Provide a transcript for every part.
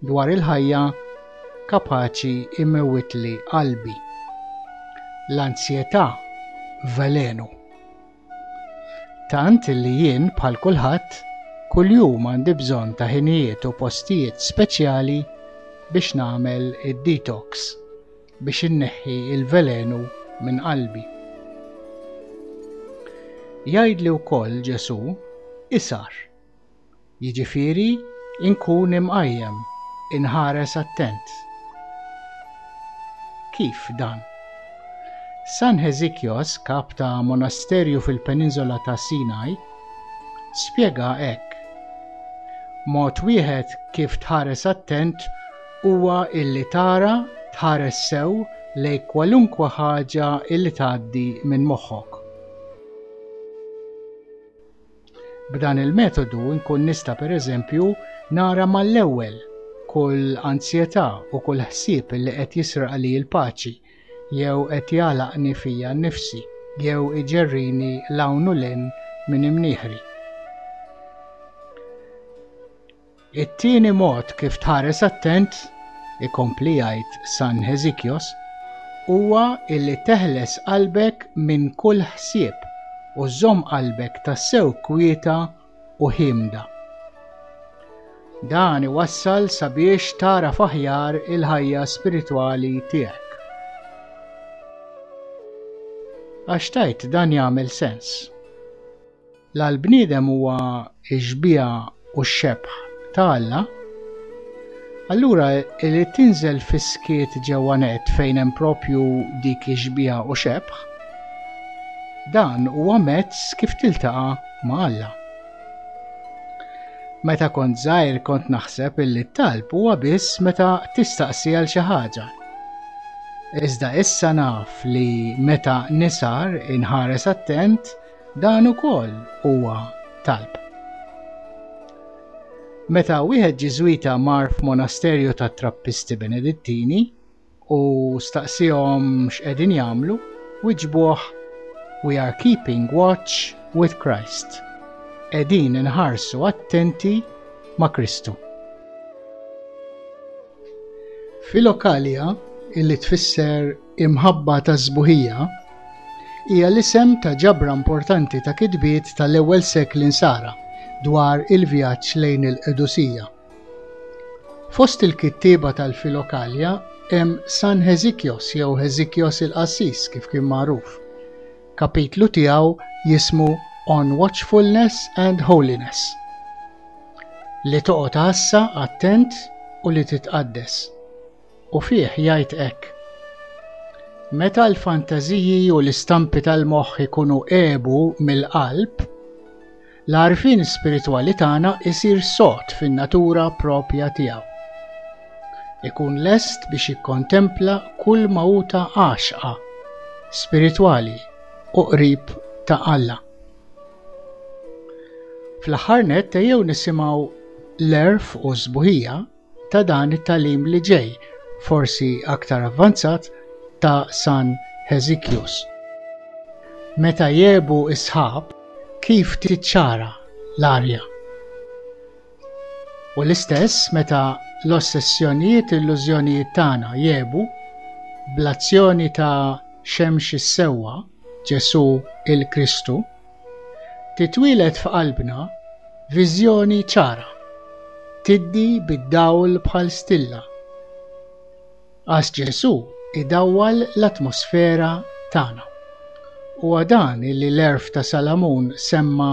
Dwar il-ħajja kapaċi imewwitli qalbi. L-anzjetà velenu. Tant li jien bħal kulħadd kuljum għandi bżonn ta' ħinijiet u postijiet speċjali biex nagħmel id-detox biex inneħħi l-velenu minn qalbi. Jgħidli wkoll Ġesù, isar. jiġifieri nkun imqajjem, inħares attent. Kif dan? San Hesychios, kap ta' monasterju fil-Peninsola ta' Sinai, spjega hekk, Mod wieħed kif tħares attent huwa illi tara, tħares sew lejn kwalunkwe ħaġa illi tgħaddi minn moħħok. B'dan il-metodu nkun nista' pereżempju nara mal-ewwel kull anzjetà u kull ħsieb li qed jisraqli l-paċi jew qed jagħlaqni fija nnifsi jew iġerrini 'l hawn u 'l hinn minn imnieħri. It-tieni mod kif tħares attent, ikompli jgħid San Hesychios, huwa illi teħles qalbek minn kull ħsieb u żżomm qalbek tassew kwieta u ħiemda. Dan iwassal sabiex tagħraf aħjar il-ħajja spiritwali tiegħek. Għax tgħid dan jagħmel sens. La l-bniedem huwa x-xbieha u x-xebħ ta' Alla, allura li tinżel fis-skiet ġewwa nett fejn hemm proprju dik ix-xbieha u xebħ, dan huwa mezz kif tiltaqa' ma' Alla. Meta kont żgħir kont naħseb illi t-talb huwa biss meta tistaqsi għal xi ħaġa. Iżda issa naf li meta nisar inħares attent Dan ukoll huwa talb. Meta wieħed Ġiżwita mar f'monasterju ta' Trappisti Benedittini u staqsihom x'qegħdin jagħmlu, wiġbuh We are keeping watch with Christ. Qegħdin inħarsu attenti ma' Kristu. Filokalja, illi tfisser Imħabba tas-Sbuħija hija l-isem ta' ġabra importanti ta' kitbiet tal-ewwel sekli Nsara dwar il-vjaġġ lejn il-Qdusija. Fost il-kittieba tal-Filokalja hemm San Heżikjos jew Heżikjos il-Qassis kif kien magħruf. Kapitlu tiegħu jismu On Watchfulness and Holiness. Li toqgħod għassa attent u li titqaddes. u fih jgħid hekk, Meta l-fantażiji u l-istampi tal-moħħ ikunu għebu mill-qalb, l-għarfien spiritwali tagħna jsir sod fin-natura proprja tiegħu. Ikun lest biex jikkontempla kull ma hu ta' għaxqa, spiritwali u qrib ta' Alla. Fl-aħħar nett ejjew nisimgħu l-għerf u s-sbuħija ta' dan it-tagħlim li ġej, forsi aktar avvanzat, ta' San Hesychius. Meta jegħbu s-sħab, kif tiċċara l-arja? U l-istess meta l-ossessjonijiet, illużjonijiet tagħna jegħbu, bl-azzjoni ta' Xemx is-Sewwa, Ġesù il-Kristu, Titwieled f'qalbna viżjoni ċara, tiddi bid-dawl bħal stilla. Għaż Ġesù idawwal l-atmosfera tagħna. Huwa dan li l-għerf ta' Salamun semma,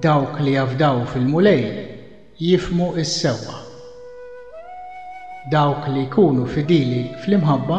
Dawk li jafdaw fil-Mulej jifhmu s-sewwa. Dawk li jkunu fidili fl-imħabba.